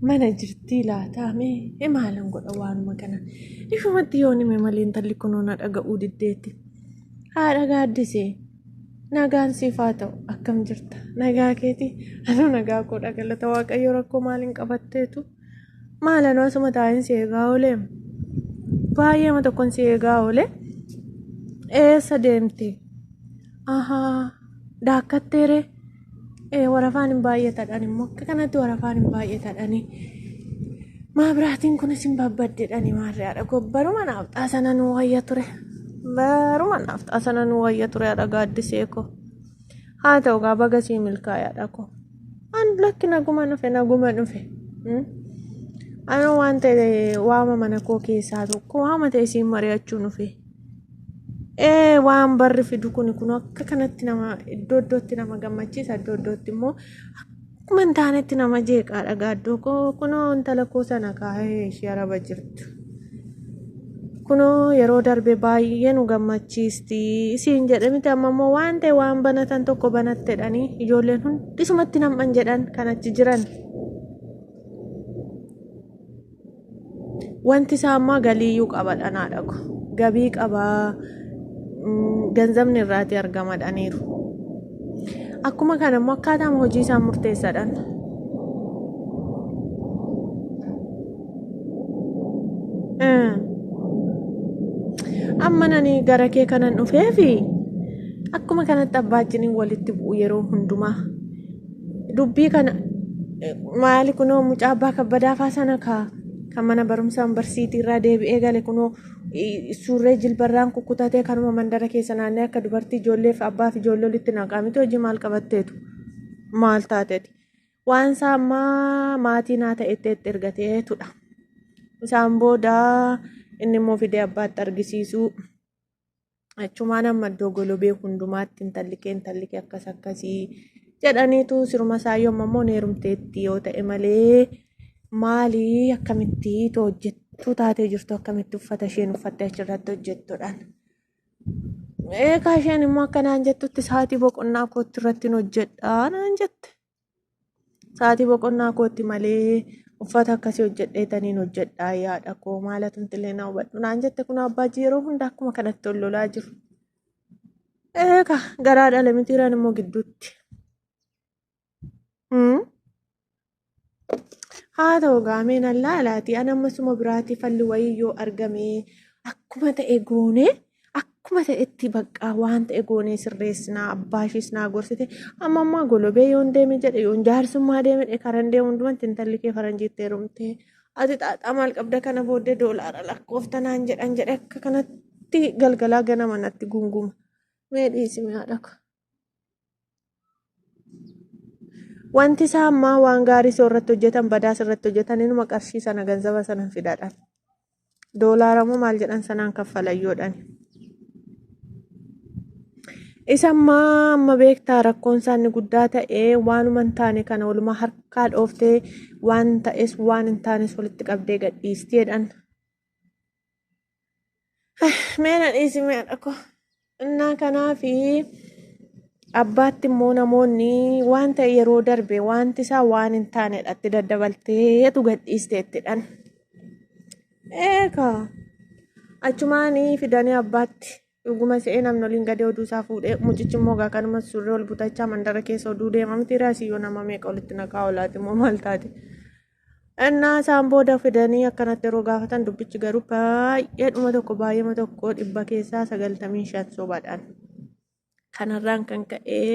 mana jirtii laataa mee e maalan godha waanuma kana ifumatti yoon hime malee intalli kunoo na dhaga'uu diddeetti haadha gaaddisee nagaan siif haa ta'u akkam jirta nagaa keeti anuu nagaa koo dhagalata waaqayyo rakkoo maaliin qabatteetu maalanoo asuma taa'in si eegaa oolee baay'eema tokkon si eegaa oolee eessa deemte ahaa daakkatteeree Eh, warafaan hin baay'atadhan immoo akka kanatti warafaan hin baay'atadhani maabiraatiin kunis hin babbaddedhani maarree haadha koo baruma naaf xaasana nu wayya ture baruma naaf xaasana nu wayya ture haadha gaaddisee koo haa ta'u gaa baga sii milkaa'e haadha koo an lakki naguma dhufe naguma dhufe Hmm? anoo waan ta'e waama mana koo keessaa tokko waama ta'e siin mari'achuu dhufe Ee waan barri fidu kun kun akka kanatti nama iddoo iddootti nama gammachiisa iddoo iddootti immoo akkuma hin taanetti nama jeeqaa dhagaa iddoo koo kunoo intala koo sana kaa'ee ishee araba jirtu. Kunoo yeroo darbe baay'ee nu gammachiisti isiin jedhe miti amma immoo waan ta'e waan banatan tokko banattedhanii ijoolleen hundisumatti nam'an jedhan kan achi jiran. Wanti isaa ammaa galiiyyuu qaba dhanaa dhagu. Gabii qabaa ganzabni irraatii argama dhaniiru. Akkuma kana immoo akkaataan hojii isaa murteessaadhaan. Amma nani gara kee kanan dhufeefi akkuma kanatti abbaajjiniin walitti bu'u yeroo hundumaa. dubbii kana maali kunoo mucaa abbaa kabbadaafaa sana kaa kan mana barumsaan barsiitii irraa deebi'ee gale kunoo suurree jilbarraan kukkutatee kanuma mandara keessa naannee akka dubartii ijoolleef abbaaf ijoollee walitti naqaamiti hojii maal qabatteetu maal taateeti waan isaa ammaa maatii naa ta'etti itti ergateetudha isaan booda inni immoo fidee abbaatti argisiisuu Achumaan amma iddoo golobee hundumaatti intallikee intallikee akkas akkasii jedhaniitu siruma saayyoo amma immoo neerumteetti yoo ta'e malee maalii akkamitti too hojjettuu taatee jirtu akkamitti uffata isheen uffattee achirratti hojjettudhaan. Eegaa isheen immoo akka naan jettutti sa'aatii boqonnaa kootti irratti hin hojjedhaa naan jette. Sa'aatii boqonnaa kootti malee uffata akkasii hojjedhee taniin hojjedhaa yaada koo maala tumtillee na hubadhu naan jette kun abbaa yeroo hunda akkuma kanatti ol lolaa jiru. Eeka garaa dhala mitiiraan immoo gidduutti. Haa ta'u gaameen allaa alaatii an ammasuma biraatii falli wayii yoo argame akkuma ta'e goonee. akkuma ta'etti baqqaa waan ta'e goonee sirreessinaa abbaa ishiis naa gorsite amma ammaa golobee yoon deeme jedhe yoon jaarsummaa deeme jedhe karan deemu hundumatti intalli kee faranjiitti heerumte ati xaaxaa maal qabda kana booddee doolaara lakkoofta naan jedhan jedhe akka kanatti galgalaa ganama natti gunguma mee dhiisime haadha koo. Wanti isaa ammaa waan gaarii soo irratti hojjetan badaas irratti hojjetan inuma qarshii sana ganzaba sana hin fidadhan. Doolaara moo maal jedhan sanaan kaffalayyoodhan. Isa ammaa amma beektaa rakkoon isaa inni guddaa ta'e waanuma hin taane kana walumaa harkaa dhooftee waan ta'es waan hin taanes walitti qabdee gadhiisti jedhan. Mee na dhiisi mee haadha koo. Innaa kanaafi abbaatti immoo namoonni waan ta'e yeroo darbe wanti isaa waan hin taanedha itti daddabalteetu gadhiiste ittidhan. Eegaa achumaanii fidanii abbaatti Dhuguma se'ee namni oliin gadee oduu isaa fuudhee mucichi immoo gaa kanuma surree ol butachaa mandara keessa oduu deema miti raasii yoo nama meeqa olitti naqaa olaati immoo maal taate. Innaa isaan booda fidanii akkanatti yeroo gaafatan dubbichi garuu baay'ee dhuma tokko baay'eema tokko dhibba keessaa sagaltamii shan sobaadhaan. Kanarraan kan ka'ee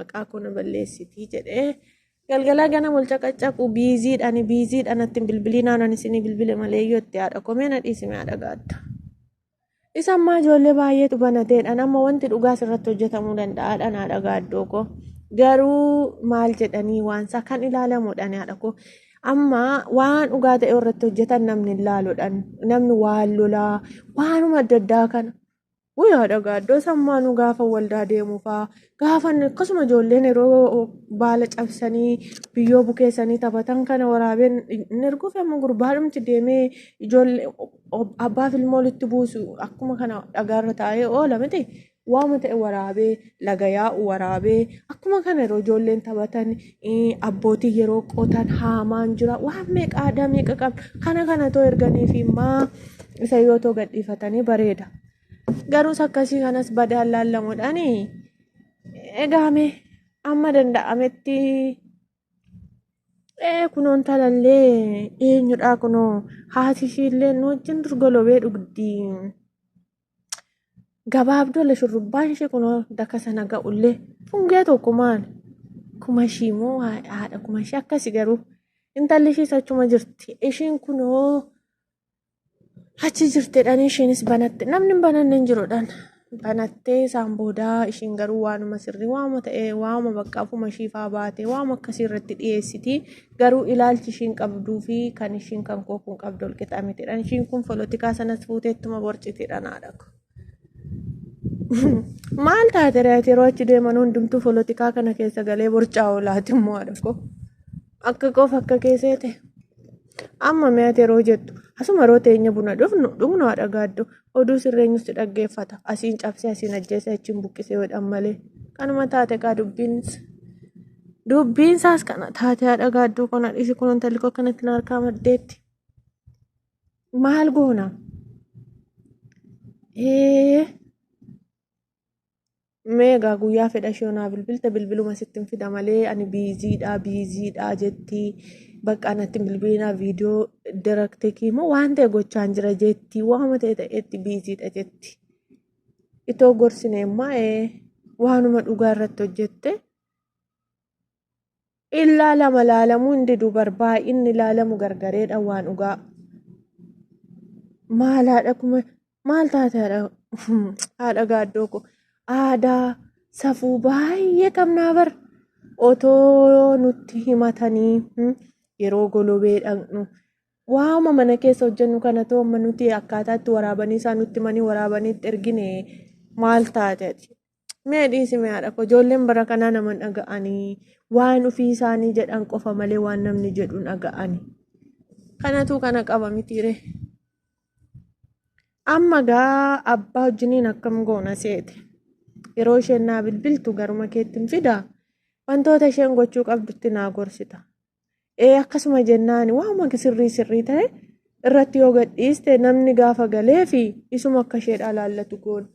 maqaa koo na balleessitii jedhee galgalaa gana mulca qaccaqu biiziidhaan biiziidhaan ittiin bilbilinaan ani isinii bilbile malee yoo itti haadha komee na dhiisime haadha gaatta. Isa ammaa ijoollee baay'eetu banateedhaan amma wanti dhugaa irratti hojjetamuu danda'a dhanaa dhagaa iddoo koo. Garuu maal jedhanii waansaa kan ilaalamu dhanaadha koo. Amma waan dhugaa ta'e irratti hojjetan namni ilaaluudhaan namni waan lolaa waanuma adda addaa kana. Guyyaa dhagaa iddoo sammaanuu gaafa waldaa deemuu fa'aa Gaafan akkasuma ijoolleen yeroo baala cabsanii biyyoo bukeessanii taphatan kana waraabeen hin erguuf amma gurbaadhumti deemee ijoollee abbaaf ilmoo walitti buusu akkuma kana dhagaarra taa'ee oola miti. Waama ta'e waraabee laga yaa'u waraabee akkuma kana yeroo ijoolleen taphatan eh, abbootiin yeroo qotan haamaan jira waan meeqa aadaa meeqa qabna kana kana too erganii fi maa isa yoo too gadhiifatanii bareeda. Garuus akkasii kanas badaan laallamuudhaan egaame amma danda'ametti ee kunoon talallee eenyudhaa kunoo haati ishiillee nu wajjin durgolobee dhugdi. Gabaabdoolle shurrubbaan ishee kunoo daka sana ga'ullee fungee tokko maali? Kuma ishii moo haadha kuma ishii akkasi garuu intalli ishiis achuma jirti. Ishiin kunoo achi jirtedhaan isheenis banatte namni hin bananne hin jirudhaan banattee isaan boodaa ishiin garuu waanuma sirrii waama ta'e waama bakka afuma ishiifaa baate waama akkasii irratti dhiyeessiti garuu ilaalchi ishiin qabduu fi kan ishiin kan koo kun qabdu walqixa mitidhaan ishiin kun polotikaa sanas fuuteettuma borcitidhaan haadha koo. Maal taate reeti yeroo achi deeman hundumtuu polotikaa kana keessa galee borcaa oolaati immoo haadha koo. Akka qofa akka keessee ta'e. Amma mi'aati yeroo jettu asuma yeroo teenya buna dhufnu dhugnu haadha gaaddu oduu sirreenyus si dhaggeeffata asiin cabsee asiin ajjeesee achiin buqqisee godhan malee kanuma taate kaa dubbiins dubbiinsaas kana taate haadha gaadduu kana dhisi kun intalli koo kanatti na harkaa maddeetti maal goona ee Mee egaa guyyaa fedha ishee onaa bilbilte bilbiluma sitti hin fida malee ani biiziidha biiziidha jetti bakka natti hin bilbilinaa viidiyoo daraktekii moo waan ta'e gochaan jira jetti waama ta'e ta'etti biiziidha jetti. Itoo gorsine immaa ee waanuma dhugaa irratti hojjette Illaa lama laalamuu hin didu bar baay'inni laalamu gargareedha waan dhugaa. Maal haadha kuma maal taate haadha haadha gaaddoo ko aadaa safuu baay'ee qabnaa bar otoo nutti himatanii hmm, yeroo golobee dhaqnu waama mana keessa hojjennu kana too amma nuti akkaataa itti waraabanii isaa nutti manii waraabanii itti ergine maal taate ati Mee dhiisi mee haadha koo ijoolleen bara kanaa nama hin dhaga'anii waan ofii isaanii jedhan qofa malee waan namni jedhu hin dhaga'ani. Kanatu kana qaba mitiire. Amma gaa abbaa wajjiniin akkam goona seete. Yeroo isheen naa bilbiltu garuma keetti hin fidaa. Wantoota isheen gochuu qabdutti naa gorsita. Ee akkasuma jennaan waanuma sirrii sirrii ta'e irratti yoo gadhiiste namni gaafa galee fi isuma akka isheedhaa laallatu goona.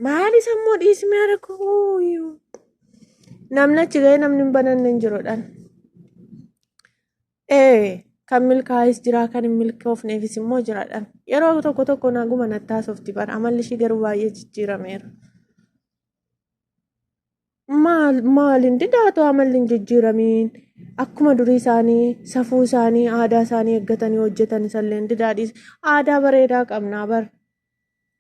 Maali sammuu dhiismee rakkoo namni achi ga'ee namni hin bananne hin jirudhaan. Ee kan milkaa'es jira kan hin milkoofneefis immoo jiraadhaan. Yeroo tokko tokko naguma nattaasofti bara amalli ishii garuu baay'ee jijjiirameera. maal maal hin didaatu amalli hin jijjiiramiin akkuma durii isaanii safuu isaanii aadaa isaanii eeggatanii hojjetan isallee hin didaadhiis aadaa bareedaa qabnaa bar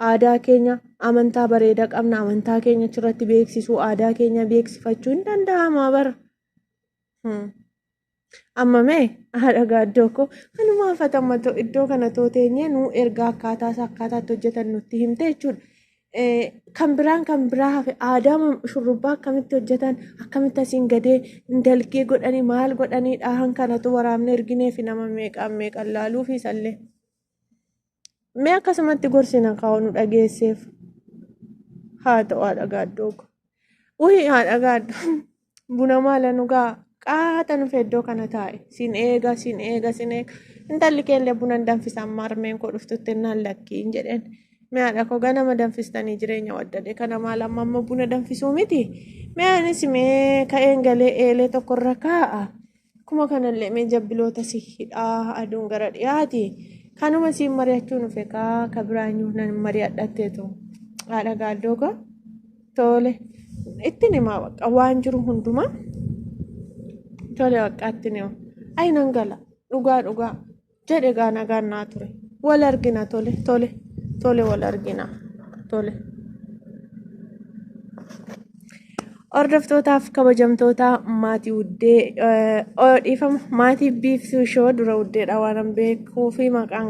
aadaa keenya amantaa bareedaa qabna amantaa keenya achirratti beeksisuu aadaa keenya beeksifachuu hin danda'amaa bar. Hmm. Amma mee haadha gaaddoo koo kanumaa fatama too iddoo kana too teenyee nuu ergaa akkaataa isaa akkaataatti hojjetan nutti himte jechuudha. Eh, Kan biraan kan biraa hafe aadaa mam- shurrubbaa akkamitti hojjetan akkamitti asiin gadee dalgee godhanii maal godhanii dhaahan kanatu waraabne ergineefi nama meeqaan meeqan laaluu fi isallee. Mee akkasumatti gorsina kaa'u nu dhageesseef. Haa ta'u haadha gaaddoo ko. Wayii haadha gaaddoo buna maala nu gaa qaata nuuf iddoo kana taa'e. Sin eega sin eega sin eega. Intalli keellee buna hin danfisan marmeen koo dhuftutti innaan lakkii hin jedheen. Mee haadha koo ganama danfistanii jireenya waddade kana maal amma amma buna danfisuu miti. Mee anis mee ka'een galee eelee tokkorra kaa'a. Akkuma kanallee mee jabbiloota si hidhaa aduun gara dhiyaati. Kanuma siin mari'achuu nuuf egaa ka biraanyuu nan mari'adhatteetu haadha gaaddooga tole ittiin himaa bakka waan jiru hundumaa tole bakka ittiin himaa ayi nan gala dhugaa dhugaa jedhe egaa nagaan naa ture wal argina tole tole tole wal argina tole. Hordoftootaaf kabajamtoota maatii uddee eh, oh, dhiifama maatii biiftuu ishoo dura uddeedha waan beekuu fi maqaan